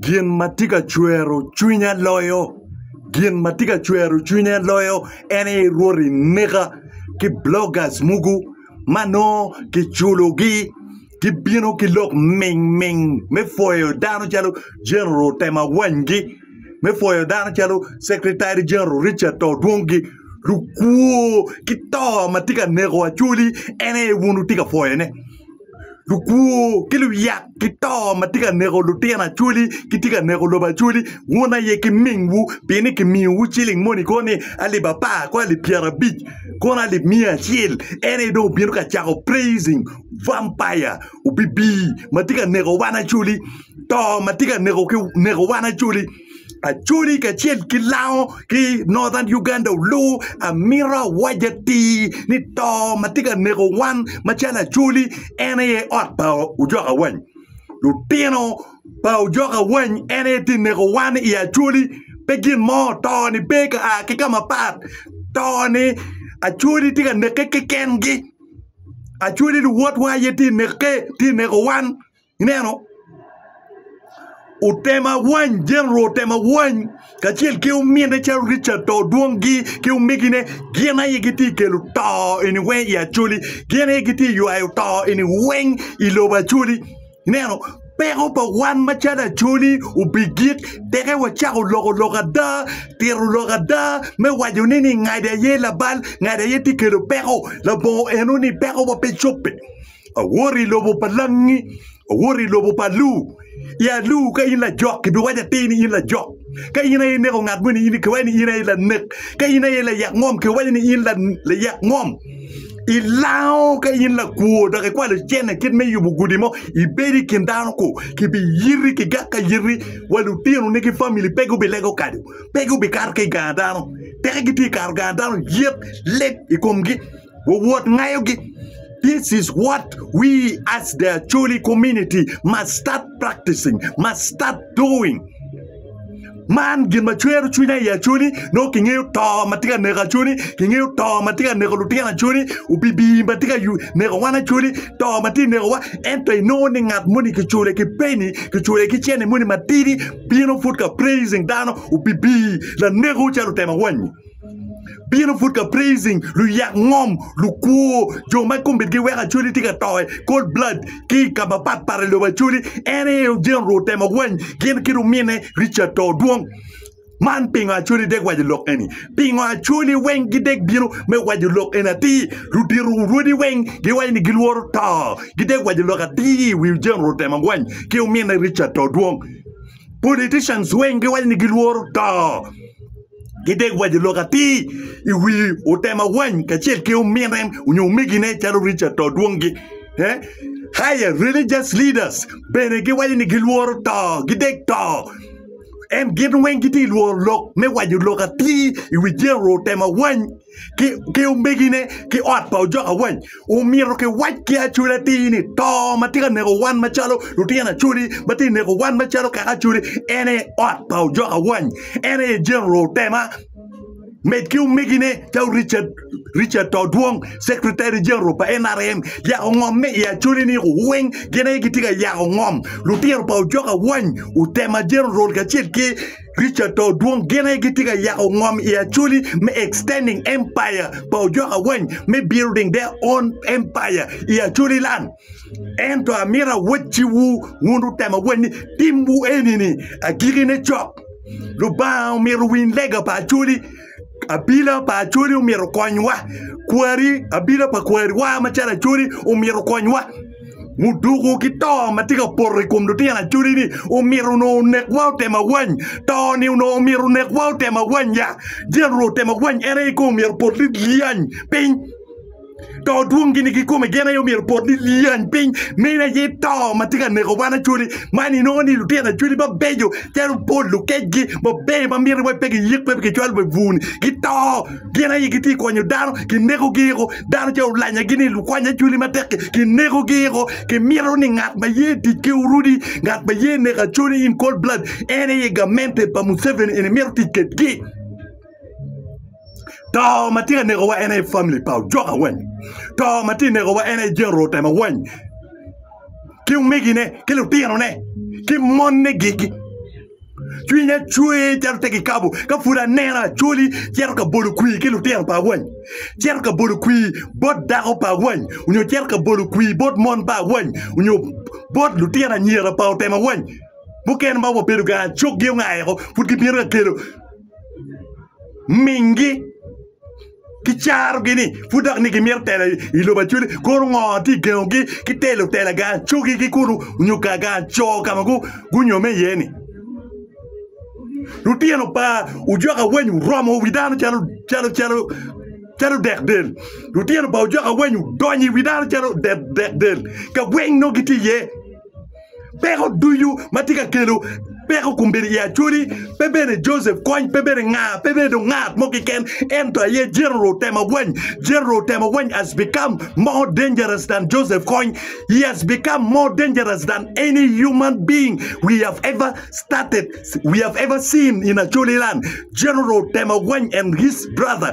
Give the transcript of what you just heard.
Gin ma tye ka cwero cwinya loyo gin ma tye ka cwero cwinya loyo en aye Rwot i neka ki bloggers mogo ma nongo kiculogi gibino ki lok mingming me pwoyo dano calo General Tema Wanygi me pwoyo dano calo Secretary General Richard To Odwongi lukwo ki to ma tye ka neko Acholi en aye wun wutye ka pwoyone. lukwor ki luyak ki to ma tye ka neko lutino acholi kitye ka neko lobo acholi wun aye ki mingwu pien ni kimiyowu ciling moni kono ni alip apar kong alip pyerabic kono alip miya acel en aye dong obino ka cako praising vampire obibi ma tye ka neko wan acoli to ma tye ka neko wan acoli Acholi kacel ki Lango ki Northern Uganda olu, amito awac atir ni to ma tye ka neko wan macalo Acholi en aye ot pa ojok awany. Lutino pa ojok awany en aye tye ka neko wan i Acholi, pe gin mo, to-ni pe ka a ki ka mapat, to-ni Acholi tye ka neke kekengi, Acholi luwotwa aye tye ka neke, tye ka neko wan. Ineno? Otemo awany, jeneral otemo awany kacel ki omine calo Richard to dwongi ki omegine gin aye gitye ka kelo to eni weng i Acholi, gin aye gitye ka ywayo to eni weng i lobo Acholi. Ineno? Peko pa wan macalo Acholi obigik, teke wacako loko lok ada, tito lok ada me waco ni ngadi aye labal, ngadi aye tye ka kelo peko. Labongo eno ni pekowa pe cobbe. Awoto i lobo pa langi, awoto i lobo pa Alu. I Alu ka in lajok, kibiwaco atir ni in lajok. Ka in aye ineko ngat mo ni kiwaco ni in aye lanek. Ka in aye layak ngom, kiwaco ni in layak ngom. Ilango ka in lakwo dok ikwalo cente kit me yubo gudi mo, ibedo i kin dano ku, kibiyiti ki gak ka yiti wa lutinoni ki famili pe gubilego kadu, pe gubikato ki i gang dano. Teke gitye ka kato gang dano yet lit i komgi. Wawot ngayogi. This is what we as the Acholi community must start practicing, must start doing. Man gin ma cwero cwinya i Acholi, nongo kingeyo to ma tye ka neko Acholi, kingeyo to ma tye ka neko lutino Acholi, opibii ma tye ka yu- neko wan Acholi, to ma tye ka nekowa. Ento inongo ni ngat moni kicule ki peni, kicule ki cene moni matidi, bino pud ka praising dano, opibii, lanekwu calo otemo awanyi. Bino put ka praising luyak ngom, lukwo, jo ma kombedgi weko Acholi tye ka to i cold blood ki i ka mapat pat i lobo Acholi. En aye General otemo wany gin ki lumine Richard to dwong. Man pingo Acholi dek waco lok eni? Pingo Acholi weng gidek bino me waco lok eni atir? Ludito rwodi weng giwaco ni gilworo to. Gidek waco lok atir i wi General otemo wany ki lumine Richard to dwong. Politicians weng giwaco ni gilworo to. ki dek wa jo lok atir i wi otema wany kacel ki omine nyo omegine calo Richard to dwongi eh higher religious leaders bene giwaco ni gilworo to gidek to en gin weng gitye lworo lok me waco lok atir i wi jeno otema wany ki omegine ki ot pa ojok awany omyero kiwac ki acwal atir ni to ma tye ka neko wan macalo lutino acwali ma tye ka neko wan macalo kaka acwali en aye ot pa ojok awany en aye General Otema med ki omegine calo Richard Todwong Secretary General pa nrm yako ongomme i acwali-ni weng gin aye gitye ka yako ngom lutino pa ojok awany Otema General kacel ki Richard pa Odwong gene gitye ka yako ngom i Acholi me Extending Empire pa Ojok Awany me Building Their Own Empire i Acholi Land. Ento amito awacciwu wun lutemo awany ni timwu eni-ni agikine cok. Lubanga omito winy lega pa Acholi Abila pa Acholi omyero okonywa, kwari abila pa kwariwa macalo Acholi omyero okonywa. Muduku ki to ma tye ka poto i kom lutino Acholi-ni omyero onongo onekwa otemo awany. To-ni onongo omyero onekwa otemo awanya. Jeneral otemo awany en aye kong omyero opot ni lyany piny. to dwong gini kikome gin aye myero opot ni lyeny piny meno aye to ma tye ka neko wan acholi man inongo ni lutino acholi ma beco calo pol lukecgi ma beco ma miti wai pe giyik pe kicwalo wa i bur ni gito gin aye gitye ka konyo dano kineko giko dano ca olanya gi ni lukwany acholi matek ki kineko giko kimito ni ngat ma ye tic ki orudi ngat ma ye neko acholi in cold blood en aye gamente pa museveni eni mito tic kwedgi To ma tye ka nekowa en aye famili pa ojok awany, to ma tye ka nekowa en aye jenerol otemo awany ki omegine ki lutinone ki mone gigi. Cwinya cwer calo te kikabo ka pud aneno Acholi cito ka bolo kwir ki lutino pa awany, cito ka bolo kwir bot dako pa awany nyo cito ka bolo kwir bot mon pa awany nyo bot lutino anyira pa otemo awany. Mukene ma wabedo kanya coggi ongaeko pud gibino ka kelo. mingi ki carogi ni pud dok ni gimito telo i lobo acwele kono ngo tye ka gengogi ki telo tela gang acogi ki kulu nyo gang aco ka ma gunyomme iye ni lutino pa ojok awany oromo wi dano calo dek del lutino pa ojok awany odonyo i wi dano calo dek del ka weng nongo gitye iye. Peko ducu ma tye ka kelo peko kombedo i Acholi pe bene Joseph Kony, pe bene nga, pe bene dong ngat mo keken ento aye General Temagweny. General Temagweny has become more dangerous than Joseph Kony. He has become more dangerous than any human being we have ever started, we have ever seen in Acholi land. General Temagweny and his brother.